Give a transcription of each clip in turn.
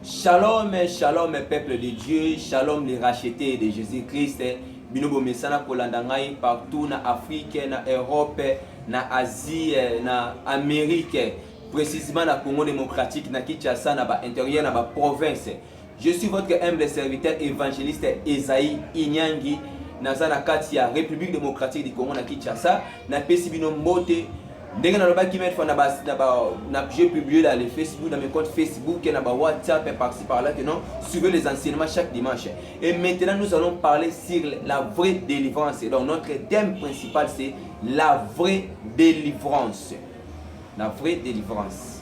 Shalom, shalom peuple de Dieu, shalom les rachetés de Jésus-Christ. Bino bomesana kolanda ngai partout na Afrique, na Europe, na Asie, na Amérique, précisément na Congo démocratique, na Kinshasa, na ba intérieur, na ba provinces. Je suis votre humble serviteur évangéliste Esaïe Inyangi naza na kati ya République démocratique du Congo na Kinshasa napesi bino mbote ndenge nalobaki meme fois na ba na ba na j'ai publié dans le Facebook dans mes comptes Facebook et na ba WhatsApp et par-ci par-là que non suivez les enseignements chaque dimanche et maintenant nous allons parler sur la vraie délivrance donc notre thème principal c'est la vraie délivrance la vraie délivrance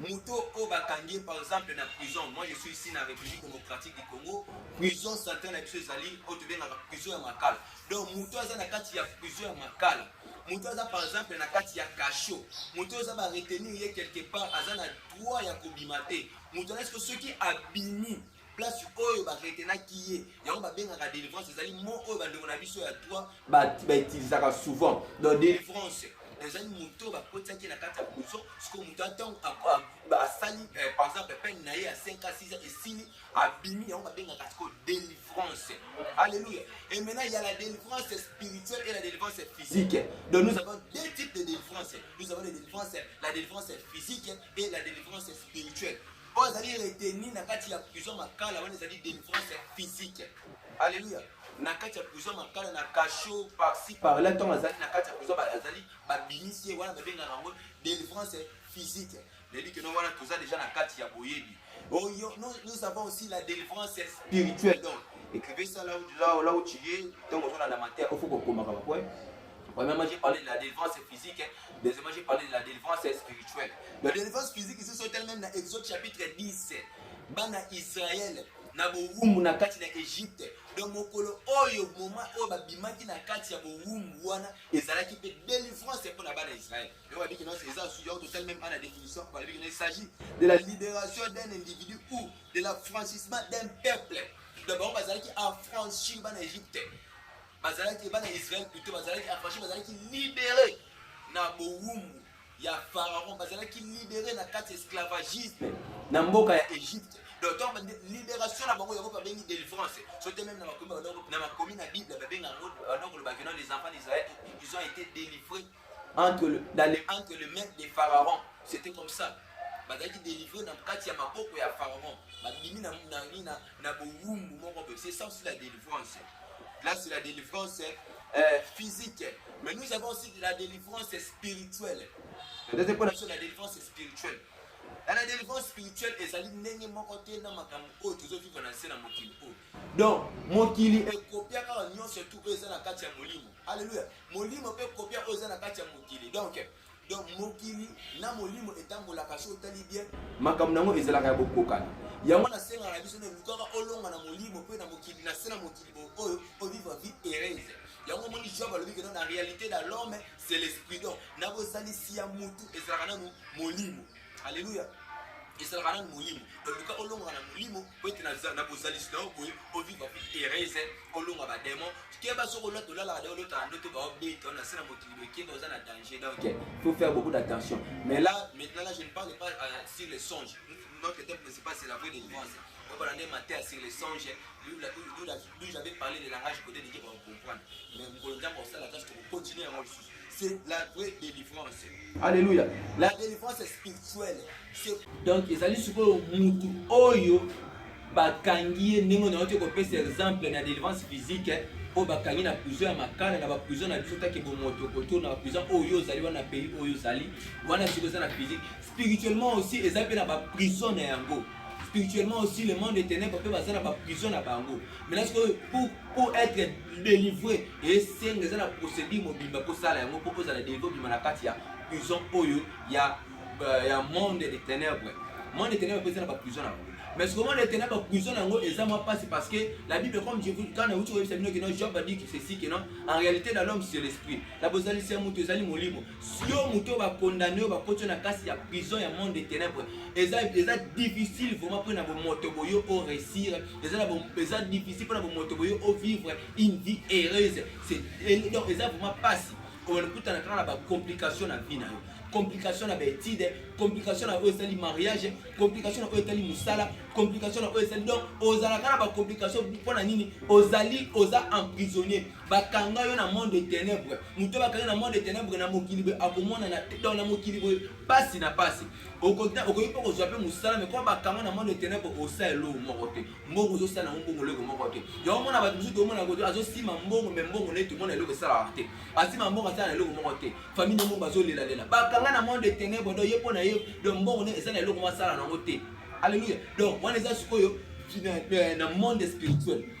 Moto oyo bakangi ye par exemple na prison, moi je suis ici na République démocratique du Congo, prison centrale na biso ezali oyo tobengaka prison ya Makala. Donc moto aza na kati ya prison ya Makala, moto aza par exemple na kati ya cachot, moto aza ba retenir ye quelque part, aza na droit ya kobima te. Moto aza soki abimi place oyo ba retenaki ye yango babengaka délivrance ezali mo oyo bandeko na biso ya toi bautilisaka souvent donc délivrance ezali moto oyo bakotisaki na kati ya prison sikoyo moto atango asali eh, par exemple peine na ye ya 5 a 6 esili abimi yango babengaka sikoyo délivrance alléluia et maintenant il y a la délivrance spirituelle et la délivrance physique donc nous avons deux types de délivrance nous avons la délivrance la délivrance physique et la délivrance spirituelle oyo azali retenu na kati ya prison ya makala wana ezali delivrance ya physique alleluya na kati ya prison ya makala na cachot parci parla ntango azali na kati ya prison azali babimisi ye wana babengaka yango delivrance physique nayebi keno wana toza deja na kati ya boyebi oyo oh, nous avons aussi la delivrance spirituelle donc écrivez ça là où, là, là où tu es ntango ozolanda mateya ofo kokomaka bapoe Premièrement, j'ai parlé de la délivrance physique. Deuxièmement, j'ai parlé de la délivrance spirituelle. La délivrance physique, c'est sur elle-même dans Exode chapitre 10. Bana Israël, na bowumbu na kati na egypte donc mokolo oyo moma oyo babimaki na kati ya bowumbu wana ezalaki mpe délivrance mpo na bana israel yango babiki nyonso eza suya total meme ana définition balobiki na il s'agit de la libération d'un individu ou de l'affranchissement d'un peuple donc bango bazalaki affranchir bana egypte bazalaki bana ya israel plutôt bazalaki afashi bazalaki libere na bowumbu ya pharaon bazalaki libere na kati ya esclavagisme na mboka ya egypte donc libération na bango yango babengi délivrance so te même na makomi na makomi na bible babenga yango banakoloba kino les enfants d'israël ils ont été délivrés entre le, dans le, entre le maître des pharaons c'était comme ça bazalaki délivré na kati ya maboko ya pharaon babimi na, na, na, na bowumbu moko boye c'est ça aussi la délivrance là c'est la délivrance euh, physique mais nous avons aussi la délivrance spirituelle ndete mpo na biso la délivrance spirituelle na la délivrance spirituelle ezali ndenge moko te na makambo oyo tozovivre na nse na mokili oyo donc mokili ekopia kaka nyonso tu oyo eza na kati ya molimo alleluya molimo mpe kopia oyo eza na kati ya mokili donc donc mokili na molimo etambolaka so otali bien makambo na yango ezalaka ya bokokana yango nasengaka na biso na elukaka olonga na molimo mpe na mokili na se na mokili oyo ovivre vie heureuse yango omoni job alobi kena na réalité na l'homme c'est l'esprit donc na bozalisi ya motu ezalaka nanu molimo Alléluia. ezalaka nanu molimo oluka olongoka na molimo po ete na bozalisi na yo boye oviva vi heureuse olonga bademo keba soki olota olalaka de olotaka ndoto baobeta na se na mokili boye keba oza na danger donc faut faire beaucoup d'attention mais là maintenant là je ne parle pas euh, sur les songes notre thème principal c'est la vraie délivrance obala nde mateya sur les songes D'où j'avais parlé de langage codé, les gens vont comprendre. Mais vous pouvez dire qu'on s'est la tâche que vous continuez à moi ici. C'est la vraie délivrance. Alléluia. La délivrance est spirituelle. Donc, ils allaient sur le moutou oyo, bakangi ye ndenge nayoki kopesa exemple na délivrance physique eh, oyo bakangi na prison ya makala na baprison na biso take bomoto koto na baprison oyo ozali wana pays oyo ozali wana soki eza na physique spirituellement aussi eza mpe na baprison na yango spirituellement aussi le monde des ténèbres mpe baza na baprison na bango maintenant sikoyo pour, pour être délivré esenga eza na procédure mobimba kosala yango mpo kozala délivré obima na kati ya prison oyo ya, euh, ya monde des ténèbres monde des ténèbres mpe eza na baprison na bango mais sikoyo monde des ténèbres baprison na yango eza mwa mpasi parce que la bible comme je vous quand nauti koyebisa bino keno job adi que ceci que non en réalité na l'homme c'est l'esprit na bozalisi ya moto ezali molimo Siyo moto oyo ba condamne oyo bakoti yo na kati ya prison ya monde de tenèbres eza eza difficile vraiment mpo na bomoto boye o réussir eza na eza difficile mpo na bomoto boye o vivre une vie heureuse c'est donc eza vraiment pasi okutana kaka na ba complication na vie na yo complication na baétude complication na oyo esali mariage complication na oyo etali mosala complication na oyo esali donc ozalaka na bacomplication mpo na nini ozali oza emprisonnier bakanga yo na monde de ténèbres moto bakanga na monde de ténèbres na mokili boye akomonana te donc na mokili boye pasi na pasi okoki mpe kozwa mpe mosala mekoma bakanga na monde de ténèbres osala eloko moko te mbongo ozosala yango mbongo eloko moko te yango omona bato mosusu tomona yango azosima mbongo me mbongo neti omona eloko esalaka te asima mbongo asala na eloko moko te famille yango bazolelalela bakanga na monde de ténèbres donc ye mpo na ye donc mbongo ne eza na eloko moko asala na yango te alleluia donc wana eza sikoyo na monde spirituel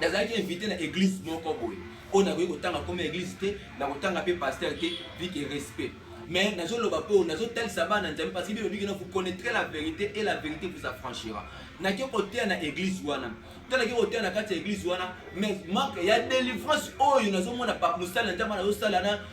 nazalaki invité na église moko boye oyo nakoki kotanga koma église te nakotanga mpe pasteur te vike respect mais nazoloba mpo nazotalisa bana nzambe parce que bino bikena vous connaîtrez la vérité et la vérité vous affranchira nake koteya na église wana to nake koteya na kati ya église wana mais manque ya délivrance oyo nazomona mosala nzambe nazosala na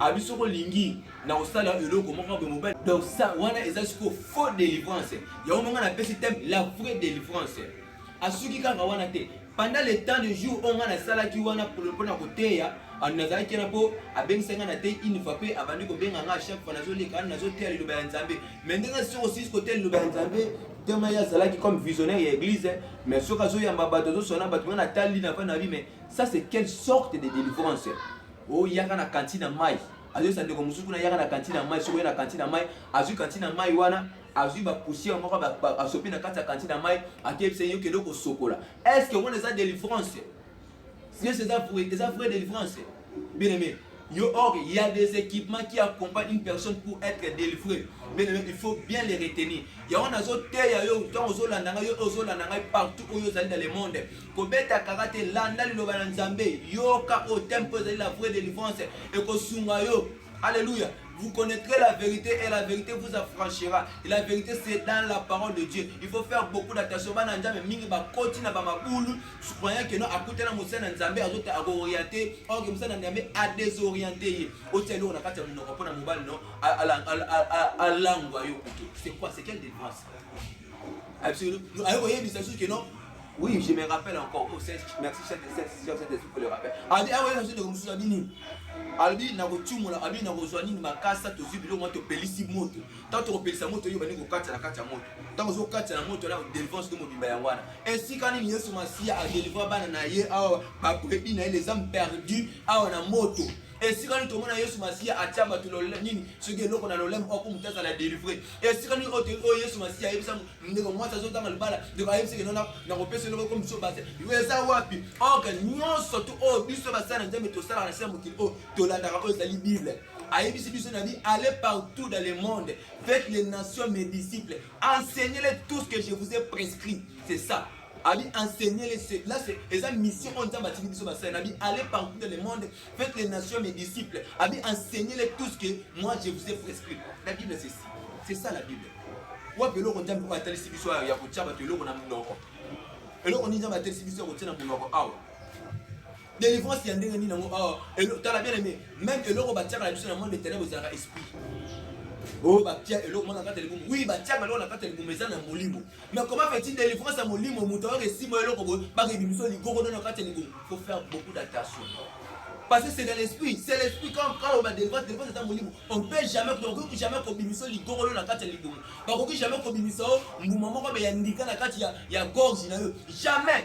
abi soko lingi na kosala eloko moko boye mobali donc ça wana eza siko faux délivrance yango manga napesi thème la vraie délivrance asuki kaka wana te pendant le temps de jour oyo ngai nasalaki wana mpo na koteya nazalaki wana mpo abengisaki ngai nateyi une fois mpe abandi kobenga ngai chaque fois nazoleka wana nazoteya liloba ya nzambe mais ndenge soko sisi koteya liloba ya nzambe tema ye azalaki comme visionnaire ya église mais soki azoyamba bato azosona bato ngai natali na va na bi mais ça c'est quelle sorte de délivrance oyaka na kantine ya mai azoyesa ndeko mosusu kuna yaka na kantine ya mai soki oya na kantine ya mai azwi kantine ya mai wana azwi bapoussière moko asopi na kati ya kantine ya mai akeyebisa yo kende kosokola est ce que omona eza délivrance yes eza eza vraie délivrance bien aimé yo or il y a des équipements qui accompagnent une personne pour être délivré bien aimé il faut bien les retenir yango nazoteya yo ntango ozolanda ngai yo ozolanda ngai partout oyo ozali na le monde kobeta kaka te landa liloba na nzambe yoka oyo tempo ezali la vraie délivrance ekosunga yo Alléluia. Vous connaîtrez la vérité et la vérité vous affranchira. Et la vérité c'est dans la parole de Dieu. Il faut faire beaucoup d'attention. Bana nzambe mingi ba koti na ba mabulu, croyant que non akuta na musa na nzambe azota ako orienter, or que musa na nzambe a désorienter ye. Otelo na kati ya munoko pona mobali non, alangwa yo kutu. C'est quoi? C'est quelle délivrance? Absolument. Ayo koyeba ça que non. Oui, je me rappelle encore. Oh, c'est merci chef de cette session cette esprit le rappel. Abi ayo na sute comme ça bini. Abi na ko tumula, abi na ko zwani makasa to zibi lo moto pelisi moto. Tanto ko pelisa moto yo bani ko katsa na katsa moto. Tanto zo katsa na moto la délivrance de mobimba ya wana. Ainsi quand ni Yesu Masia a délivrer bana na ye awa ba prebi na ye les âmes perdues awa na moto. esika nini tomona yesu masiya atya bato nini soki eloko na lolemo oko moto azala delivre esika nini oyo oh, oh, yesu masiya ayebisa ndeko mwasi azotanga libala ndeko ayebisaki nona nakopesa eloko oko moto base eza wapi ok nyonso tu oyo oh, biso basala na nzambe tosalaka na se ya mokili oyo tolandaka oyo ezali bible ayebisi biso na bi aller partout dans le monde faites les nations mes disciples enseignez-les tout ce que je vous ai prescrit c'est ça abi enseigne les là c'est eza mission oyo nzambe atindi biso basali na bi aller partout dans le monde Faites les nations mes disciples. Abi enseignez-les tout ce que moi je vous ai prescrit. La Bible c'est ça. C'est ça la Bible. Wapi eloko Nzambe oyo atalisi biso ya kotya bato eloko na monoko eloko nini Nzambe atalisi biso ya kotya na monoko awa délivrance ya ndenge nini yango awa tala bien aimé même eloko batyaka na biso na monde etene bozalaka esprit oyo oh, batya eloko mwana kati ya libumu wi batyaka eloko na kati ya libumu eza na molimo Mais comment fait-il délivrance ya molimo moto ayoka esimba eloko boye bakebimiso ligogo nano kati ya ligogo faut faire beaucoup d'attention parce que c'est dans l'esprit c'est l'esprit quand quand ba délivrance délivrance eza molimo on peut jamais okoki jamais kobimisa ligogolo na kati ya libumu bakoki jamais kobimisa yo mbuma moko be ya ndika na kati ya ya gorge na yo jamais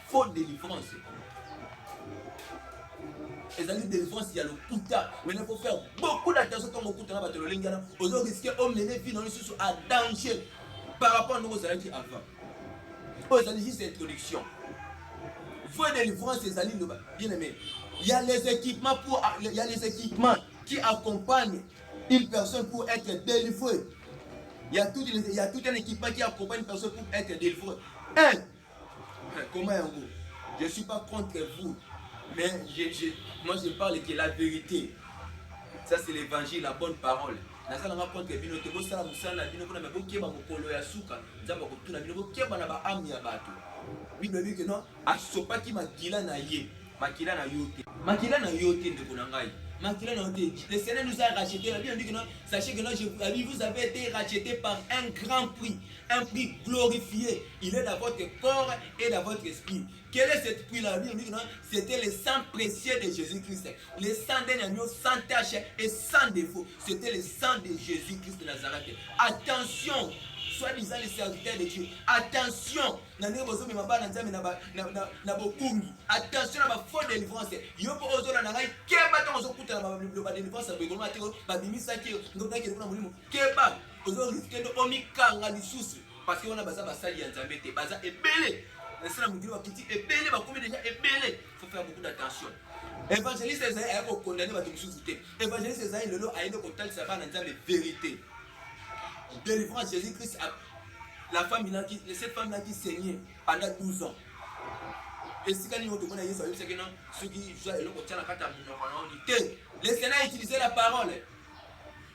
Faux délivrance. ezali délivrance ya lokuta maintenant faut faire beaucoup d'attention ntango okuta na bato ya lolenge wana ozo risque omene vie na yo lisusu à danger par rapport ndenge ozalaki avant oyo ezali juste introduction vraie délivrance ezali loba bien aimé il y a les équipements pour il y a les équipements qui accompagnent une personne pour être délivrée il y a tout il y a tout un équipement qui accompagne une personne pour être délivrée un Comment yango? Je suis pas contre vous, mais je, je, moi je parle que la vérité. Ça c'est l'évangile, la bonne parole. nazalanga contre bino te bosala mosala na bino mpona me bokeba mokolo ya suka nzambe akotuna bino bokeba na baame ya bato bible elobi ke no asopaki makila na ye makila na yo te makila na yo te ndeko na ngai makila na yo te le seigneur nous a racheté la bible dit que non sachez que non je, vous avez été racheté par un grand prix un prix glorifié Il est dans votre corps et dans votre esprit. Quel est cette puits là C'était le sang précieux de Jésus-Christ. Le sang d'un agneau sans tache et sans défaut. C'était le sang de Jésus-Christ de Nazareth. Attention soi-disant les serviteurs de Dieu. Attention, na ndenge bozomema bana nzambe na bokungi attention na bafaux délivrance yo mpo ozola na ngai keba ntango ozokutana baloba délivrance ya boekolonga te babimisaki yo ndokaki eloko na molimo keba ozoriske nde omikanga lisusu Parce que wana baza basali ya Nzambe te, baza ebele. Na sala mokili wa kiti ebele bakomi deja ebele. Faut faire beaucoup d'attention. Evangeliste ezali ayako condamner bato mosusu te. Evangeliste ezali lelo ayende kotalisa bana Nzambe verite. Délivrance Jésus-Christ a la femme là qui cette femme là qui saignait pendant 12 ans. esika nini otomona yesu ayebisaki na soki zwa eloko tya na kati ya monoko na yo te lesena utiliser la parole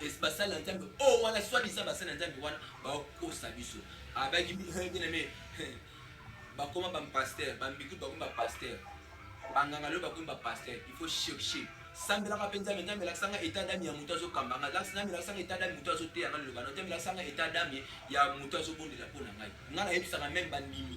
es basali na nzambe oyo oh, wana soit disant basali na nzambe wana bakokosa biso abaki biname bakoma bapaster bambiki bakoma bapaster banganga lelo bakomi bapaster il faut chercher sambelaka mpe nzambe nzambe elakisanga etat dame ya moto azokamba ngai nzambe elakisanga etat dame moto azoteya ngai liloba no nzambe elakisanga etat dame ya moto azobondela mpo na ngai ngai nayebisaka meme bandimi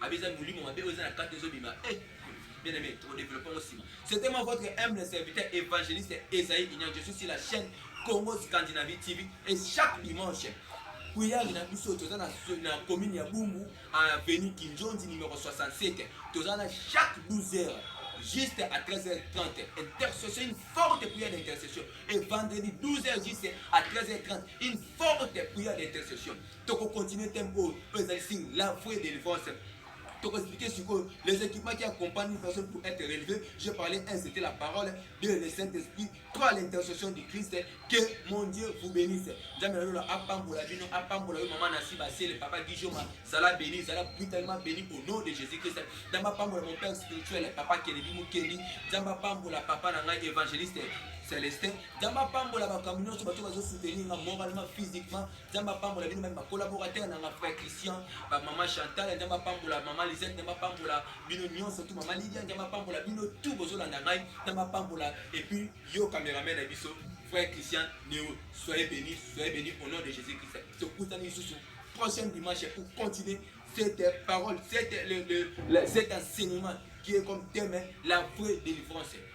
Abi eza molimo mabe oyo eza na kati ezobima eh bien aimé toko développer ngo sima c'était moi votre humble serviteur évangéliste Esaïe Kinyan je suis sur la chaîne Congo Scandinavie TV et chaque dimanche prière na biso toza na, na commune ya Bumbu avenue Kinjonzi numéro 67 toza na chaque 12 heures juste à 13h30. Intercession, une forte prière d'intercession. Et vendredi 12h juste à 13h30, une forte prière d'intercession. toko continuer thème oyo oyo ezali sur la foi et délivrance toko expliquer sikoyo les équipements qui accompagnent une personne pour être relevé j'ai parlé un c'était la parole de le saint esprit trois l'intercession du christ que mon dieu vous bénisse nzambe na lola apambola bino apambola yo mama nasi basele papa gijoma zala béni zala brutalement béni au nom de jésus christ nzambe apambola mon père spirituel papa kelebi mokendi nzambe apambola papa na ngai évangéliste Celestin nzambe apambola bakambi nyonso bato bazosoutenir nga moralement physiquement nzambe apambola bino meme bacolaborateur nanga frère christian bamama chantal nzambe apambola mama lisette nzambe apambola bino nyonso tu mama lidia nzambe apambola bino tu bozolanda ngai nzambe apambola epuis yo cameraman na biso frère christian neo soyez béni soyez béni au nom de jésus christ tokutani lisusu prochaine dimanche pour continuer cette parole cette, le, le, le, cet enseignement qui est comme thème la vraie délivrance